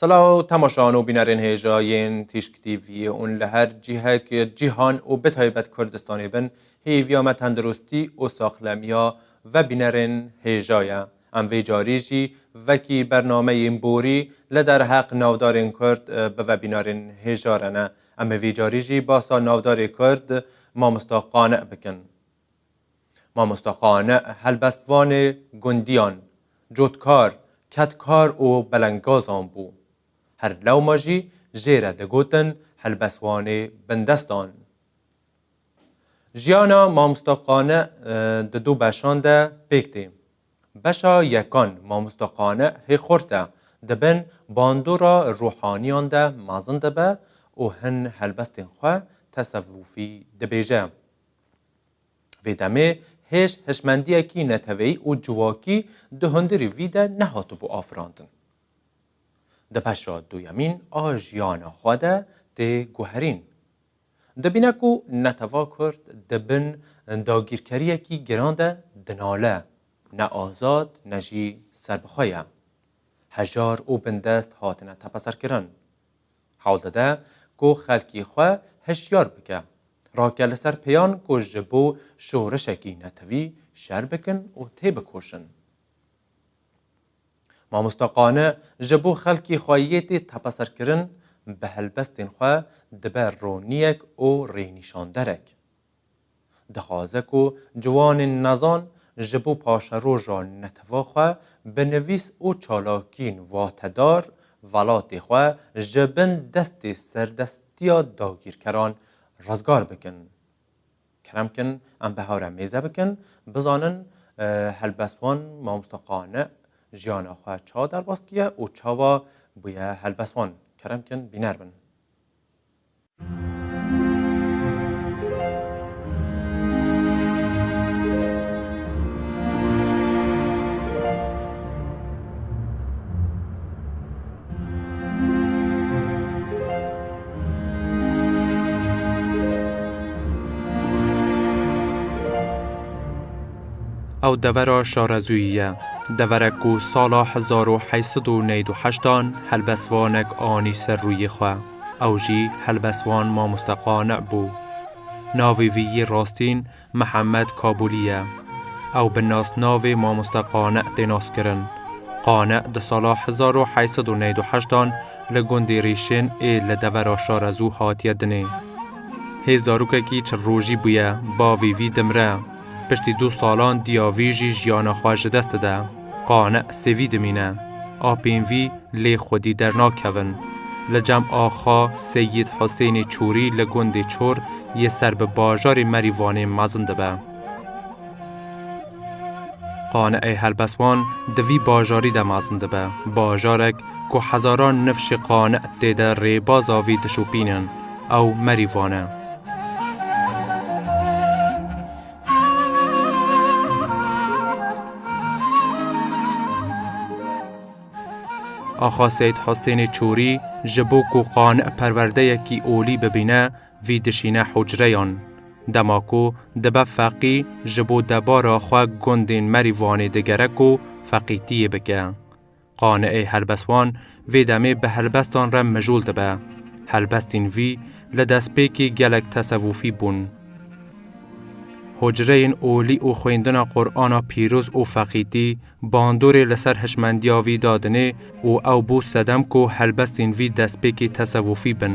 Selaw temaşan û bînerên hêja yên Tîşk TV'ê û li her cihekê cîhan û bi taybet Kurdistanê bin hêviya me tenduristî û saxlemiya ve bînerên hêja ye. Em vê carî jî vekî bernameyên borî li derheq navdarên Kurd bi vebînarên hêja re ne. Em ê vî carî jî basa navdarê Kurd Mamosta Qane bikin. Mamosta Qane helbestvanê gundiyan, cotkar, kedkar û belengazan bû. Her lewma jî jê re digotin helbestvanê bindestan. Jiyana Mamosta Qane di du beşan de pêk tê. Beşa yekan Mamosta Qani hê xort e, di bin bandora ruhaniyan de mezin dibe û hin helbestên xwe tesewufî dibêje. Vê demê hêj hişmendiyekî neteweyî û civakî di hundirî vî de nehatibû afirandin. Di beşa duyemîn a jiyana xwe de tê guherîn. Dibîne ku netew'a Kurd di bin dagîrkeriyekî giran de dinale, ne azad ne jî serbixwe ye. Hejar û bindest hatine tepeserkirin. Hewl dide ku xelkî xwe hişyar bike, rake li ser pêyan ku ji bo şorişekî netewî şer bikin û têbikoşin. Mamosta Qani ji bo xelkê xwe yê tê tepeserkirin bi helbestên xwe dibe roniyek û rênîşanderek. Dixwaze ku ciwanên nezan ji bo paşeroja netefa xwe bi nivîs û çalakiyên watedar velatê xwe ji bin destê serdestiya dagîrkeran rizgar bikin. Kerem kin em bi hew re mêze bikin, bizanin helbest wan mamosta qane jiyana xwe çawa derbas kiye û çawa bûye helbest wan. Kerem kin bîner bin. Ew devera şarezûyî ye, deverek ku sala hezar û heşt sed û neyê du heştan helbestvanek anî ser rûyê xwe, ew jî helbestvan Mamoste Qane bû. Navê vî yê rastîn Mihemed Kabûlî ye. Ew bi nasnavê Mamoste Qane tê naskirin. Qane di sala hezar û heşt sed û newîd û heşt an li gundê Rîşên ê li devera Şarezû hatiye dinê. Hê zarokekî çil rojî bûye bavê vî dimre. Piştî du salan diya vî jî jiyana xwe ji dest dide. Qane sêvî dimîne. Apên vî lê xwedî dernakevin. Li cem axa Seyîd Husênê Çorî li gundê Çor yê ser bi bajarê Merîvanê mezin dibe. Qane'ê Helbeswan di vî bajarî de mezin dibe. Bajarek ku hezaran nifşê qane' tê de rêbaza vî dişopînin. Ew Merîvan e. Axa Seyîd Husênê Çûrî ji bo ku qane perwerdeyekî olî bibîne vî dişîne hucreyan. Dema ku dibe feqî ji bo debara xwe gundên Merîwanê digere ku feqîtiyê bike. Qaneeyê helbestvan vê demê bi helbestan re mijûl dibe. Helbestên vî li destpêkê gelek tesewufî bûn. Hucreyên olî û xwendina Qur'ana pîroz û feqîtî bandorê li ser hişmendiya vî dadinê û ew bû sedem ku helbestên vî destpêkê tesewufî bin.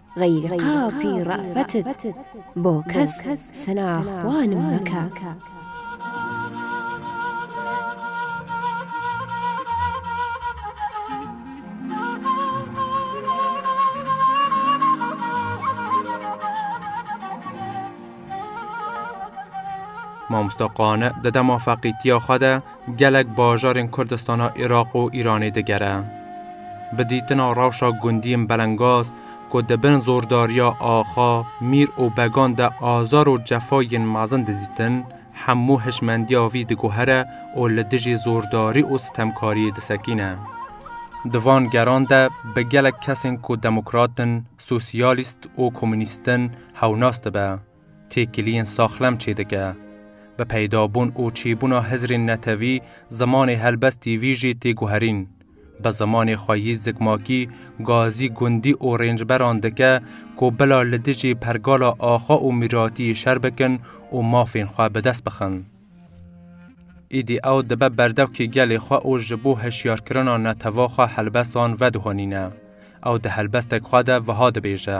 Xeyrî qapî re'fetit bo kes sena xwe nim meke. Mamosta Qane di dema feqîtiya xwe de Gelek bajarên Kurdistana Iraq û Îranê digere. Bi dîtina rewşa gundiyên belengaz ku di bin zordariya axa, mîr û began de azar û cefa yên mezin didîtin, hemû hişmendiya vî diguhere û li dijî zordarî û sitemkariyê disekîne. Di van geran de bi gelek kesên ku demokrat in, sosyalîst û komûnîst in hewnas dibe. Têkiliyên saxlem çêdike. Bi peydabûn û çîbûna hizrên netewî, zimanê helbestî vî jî tê guherîn. Bi zimanê xwe yî zikmakî, gazî gundî û rêncberan dike ku bila li dijî pergala axa û mîratiyê şer bikin û mafên xwe bi dest bixin. Îdî ew dibe berdevkê gelê xwe û ji bo hişyarkirina netewa xwe helbestan vedihonîne. Ew di helbestek xwe de wiha dibêje.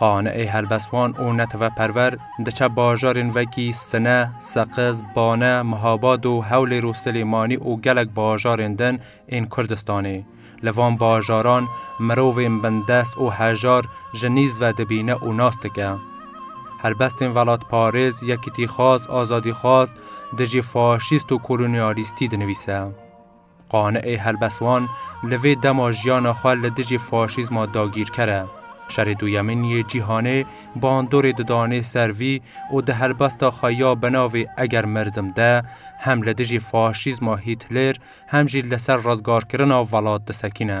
Qane'ê helbestvan û neteweperwer diçe bajarên wekî Sine, Seqiz, Bane, Mihabad û Hewlêr û Silêmanî û gelek bajarên din ên Kurdistanê. Li van bajaran mirovên bindest û hejar ji nîz ve dibîne û nas dike. Helbestên welatparêz, yekîtîxwaz, azadîxwaz dijî faşîst û kolonyalîstî dinivîse. Qane'ê helbest wan li vê dema jiyana xwe li dijî faşîzma dagîrker e. Şerê Duyemîn yê Cîhanê bandorê didanê ser vî û di helbesta xwe ya bi navê Eger mirdim de hem li dijî faşîzma Hîtlêr hem jî li ser rezgarkirina velat disekîne.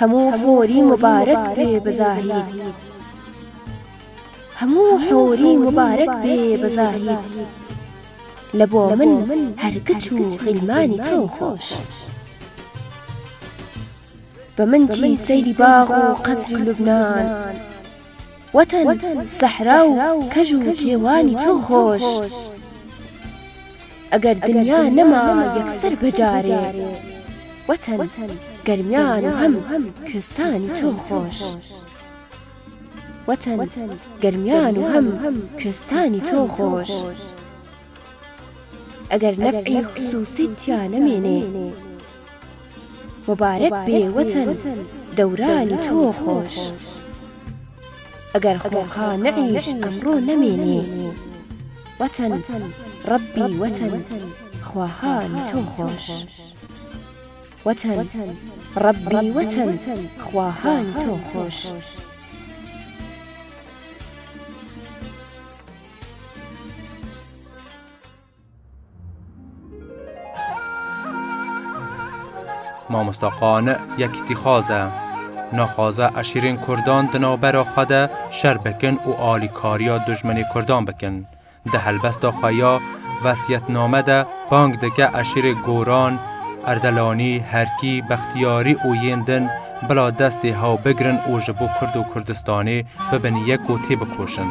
Hemû horî mubarek bê bi zahîr Hemû horî mubarek bê bi zahîr Li bo min her giç û xîlmanî to xweş. Bi min çî seyrî bax û qesrî Lubnan. Weten, sehra û kej û kêwanî çû xweş. Eger dinya nema yekser bi carê. Weten, germiyan û hem kostanî çû xweş. Weten, germiyan û hem kostanî çû xweş. Eger nef'î xusûsî tîya nemînê. Mubarek bê weten dewranî to xweş. Eger xwexa ne'îş emro nemînê. Weten Rebbî weten xwehanî to xweş. Weten Rebbî weten xwehanî to xweş. Mamosta Qani yekîtîxwaz e. Naxwaze eşîrên Kurdan di navbera xwe de şer bikin û alîkariya dijminê Kurdan bikin. Di helbesta xwe ya Vesiyetname de bang dike eşîrê Goran, Erdelanî, Herkî, Bextiyarî û yên din bila destê hew bigirin û ji bo Kurd û Kurdistanê bibin yek û têbikoşin.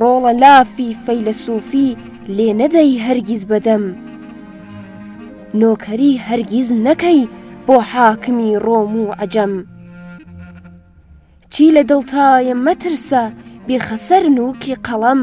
Rola lafî feylesûfî lê nedeyî hergîz bedemm. Nokerî hergîz nekey bo hakimî rom û ecem. Çî li dil taye metirse bî xeser nûkî qelem.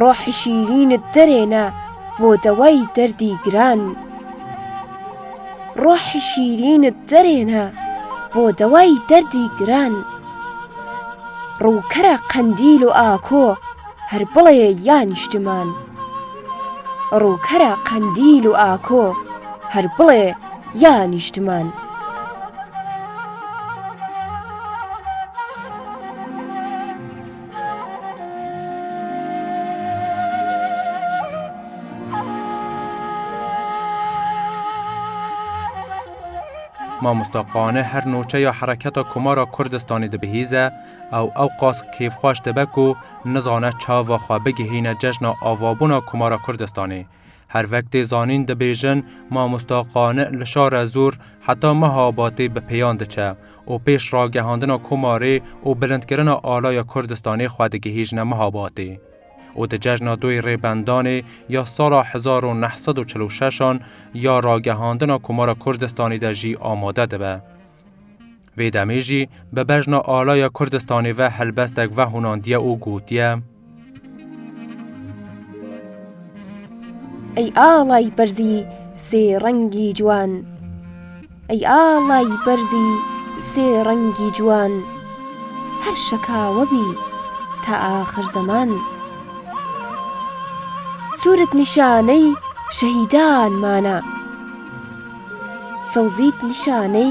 Rohê şîrîn derê ne bo dewayî derdî giran. Rohê şîrîn derê ne bo dewayî derdî giran. Rûkere qendîl û ako her bilê ya nîştiman. Rûkera Qendîl û Ako, Herbilê ya Nîştiman. Mamosta Qane her nûçeya Hereketa Komara Kurdistanê dibihîze, Ew ewqas kêfxweş dibe ku nizane çava xwe bigihîne cejna avabûna Komara Kurdistanê. Her vektê zanîn dibêjin Mamosta Qani li şare Zûr heta meha Abatê bi pêyan diçe û pêş ragihandina Komarê û bilindkirina alaya Kurdistanê xwe digihîjine meha Batê û di cejna doyê Rêbendanê ya sala hezar û neh sed û çil û şeş an ya ragihandina Komara Kurdistanê de jî amade dibe. Vê demê jî bi bejna alaya Kurdistanê ve helbestek vehûnandiye û gotiye. Ey alay berzî sê rengî ciwan Ey alay berzî sê rengî ciwan Her şeka we bî ta axir zeman Sûrit nîşaney şehîdan man e Sewzît nîşaney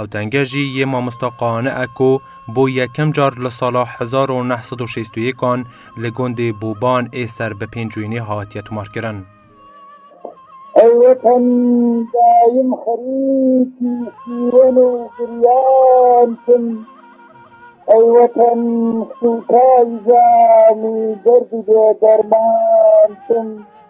Ew denge jî yê mamosta Qaane e ku bo yekem car li sala hezar û neh sed û şêst û yêkan li gundê Boban ê ser bi pêncwînê hatiye tomarkirin. Ew wetan dayim xerîkî sîwen û giryan bûn. Ew wetan sûkay zanî derd û bêderman bûn.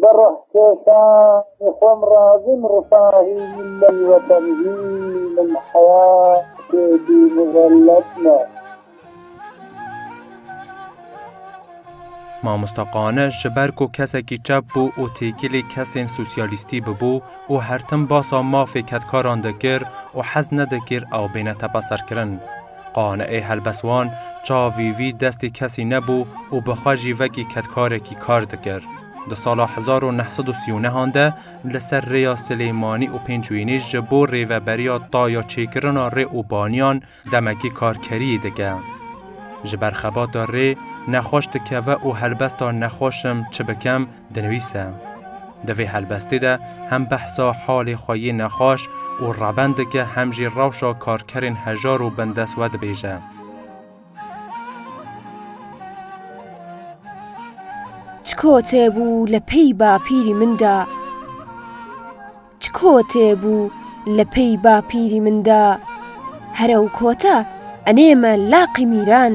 Bi ruhkeşanê xwe em razî in rifahî milletî wetenî hîn in, heyatê bî mizelet ne. Mamosta Qane ji ber ku kesekî çep bû û têkilî kesên sosyalîstî bibû û her tim basa mafê kedkaran dikir û hez nedikir ew bêne tepeserkirin. Qane'ê helbestwan çavî vî destê kesî nebû û bi xwe jî vekî kedkarekî kar dikir. Di sala hezar û neh sed û sî û nehan de li ser rêya Silêmanî û Pêncwînî ji bo rêveberiya ta ya çêkirina rê û baniyan demekî karkeriyê dike. Ji ber xebata rê nexweş dikeve û helbesta nexweşim çi bikim Dinivîse, Di vê helbestê de hem behsa halê xwe yê nexweş û reben dike hem jî rewşa karkerên hejar û bindest we dibêje. Çiko têbû li pey bapîrî min de Çiko têbû li pey bapîrî min de Here û kota enê me laqî mîran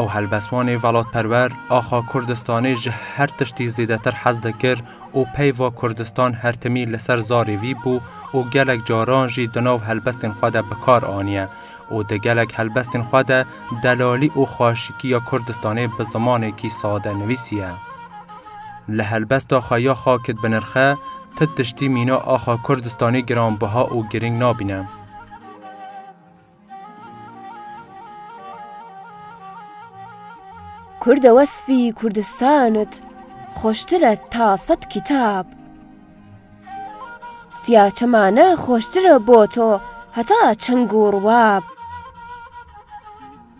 Ew helbestvanê velatperwer axa Kurdistanê ji her tiştî zêdetir hez dikir û peyva Kurdistan her timî li ser zarê vî bû û gelek caran jî di nav helbestên xwe de bi kar aniye û di gelek helbestên xwe de delalî û xweşikiya Kurdistanê bi zimanekî sade nivîsiye. Li helbesta xwe ya xakit binirxe, ti tiştî mîna axa Kurdistanê giranbiha û girîng nabîne. Kurde wesfî Kurdistanit xweştir e ta sed kîtab. Siya çemane xweştir e bo to heta çeng û rûab.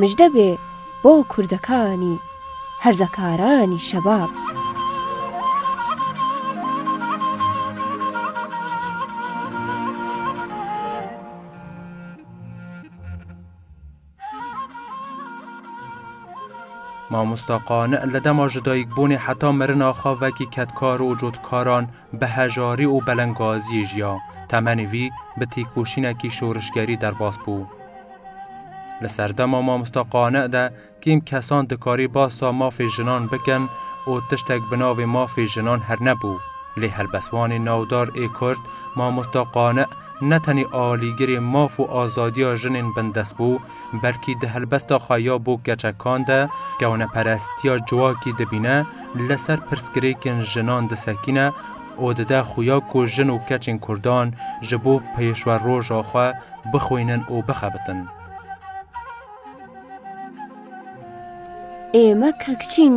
Mijde be bo kurdekanî, herzekaranî şebab. Mamosta Qani li dema jidayîkbûnê heta mirina xwe vekî kedkar û cotkaran Bi hejarî û belengaziyê jiya, temenê vî bi têkoşînekî şorişgerî derbas bû. Li serdema Mamosta Qane de kêm kesan dikarî basa mafê jinan bikin û tiştek bi navê mafê jinan hernebû, lê helbestvanê navdar ê Kurd Mamosta Qane ne tenê alîgirê maf û azadiya jinên bindestbû, Belkî di helbesta xwe ya bo keçekan de kewneperestiya civakî dibîne, li ser pirsgirêkên jinan disekîne û dide xuya ku jin û keçên kurdan ji bo pêşweroja xwe bixwînin û bixebitin. Ê me kekçîn!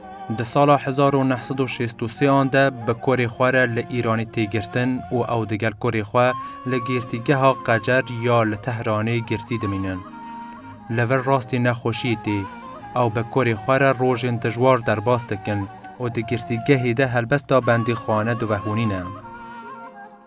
Di sala hezar û neh sed û şêst û sê an de bi korê xwe re li Îranê tê girtin û ew digel korê xwe li Girtîgeha Qecer ya li Tehranê girtî dimînin. Li vir rastî nexweşiyê tê. Ew bi korê xwe re rojên dijwar derbas dikin û di girtîgehê de helbesta bendîxane divehûnîne.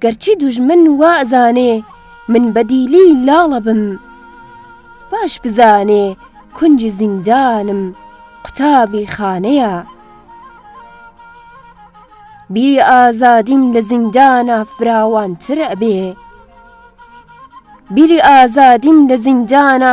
Gerçî dûjmin wa zanê min bedîlî lala bim, baş bi zanê kuncî zîndan im qutabî xane ya. Bîrî azadîm li zîndana firawantir ebê. Bîrî azadîm li zîndana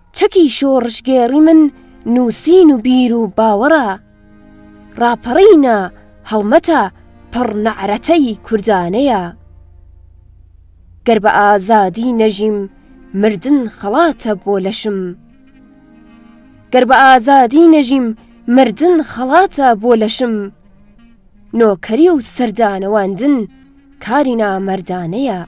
Çekî şorişgêrî min nûsîn û bîr û bawera raperîna hewmeta pir ne'reteyî kurdane ya. Ger bi azadî nejîm mirdin xelat e bo leşim. Ger bi azadî nejîm mirdin xelat e bo leşim. Nokerî û serdanewandin karî namerdane ya.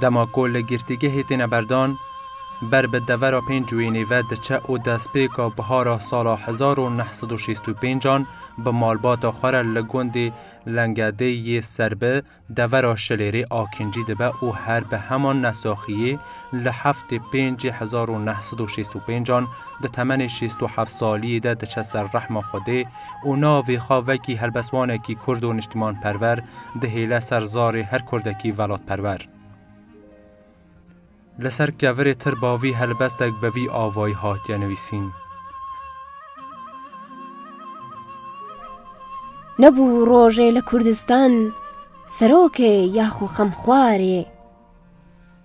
Dema ku li girtîgehê têne berdan, ber bi devera pênc wênê ve diçe û destpêka bihara sala hezar û neh sed û şêst û pênc an bi malbata xwe re li gundê Lengedê yê Serbi devera Şilêrê a kincî dibe û her bi heman nesaxiyê li heftê pêncê hezar û neh sed û şêst û pênc an di temenê şêst û heft saliyê de diçe ser rehma Xwedê û navê xwe vekî helbestvanekî kurd û niştimanperwer dihêle ser zarê her kurdekî velatperwer. Li ser kevirê tirba vî helbestek bi vî avayî hatiye nivîsîn. Nebû rojê li Kurdistan serokê ya xwe xemxwarê.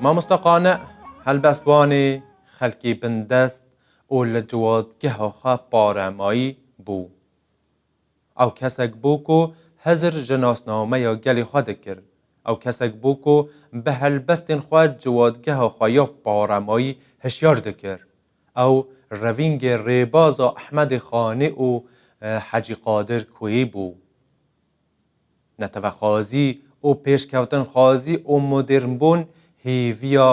Mamosta Qane helbest Wanê xelkê bindest û li ciwadgeha xwe paremayî bû. Ew kesek bû ku hizir ji nasnameya gelê xwe dikir. Ew kesek bû ku bi helbestên xwe ciwadgeha xwe ya paremayî hişyar dikir. Ew revîngê rêbaza Ehmedê Xanê û Hecî Qadir Koyê bû. Netewexwazî û pêşkewtinxwazî û modêrnbûn hêviya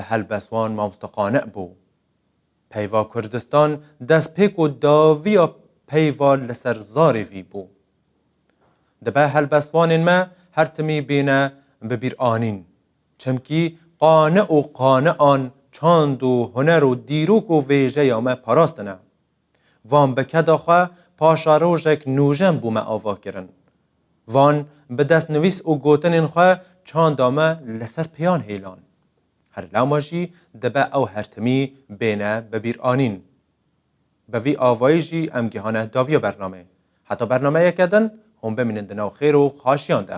helbestvan Mamoste Qane bû. Peyva Kurdistan destpêk û daviya peyva li ser zarê vî bû. Dibe helbestvanên me her timî bêne bibîranîn. Çimkî qane û qanean çand û huner û dîrok û vêjeya me parastine. Van bi keda xwe paşa rojek nûjen bû me ava kirin. Van bi destnivîs û gotinên xwe çanda me li ser pêyan hêlan. Her lama jî dibe ew her timî bêne bibîranîn. Bi vî avayî jî em gihane daviya bernamê. Heta bernameyeke din hûn bimînin di nav xêr û xaşiyan de.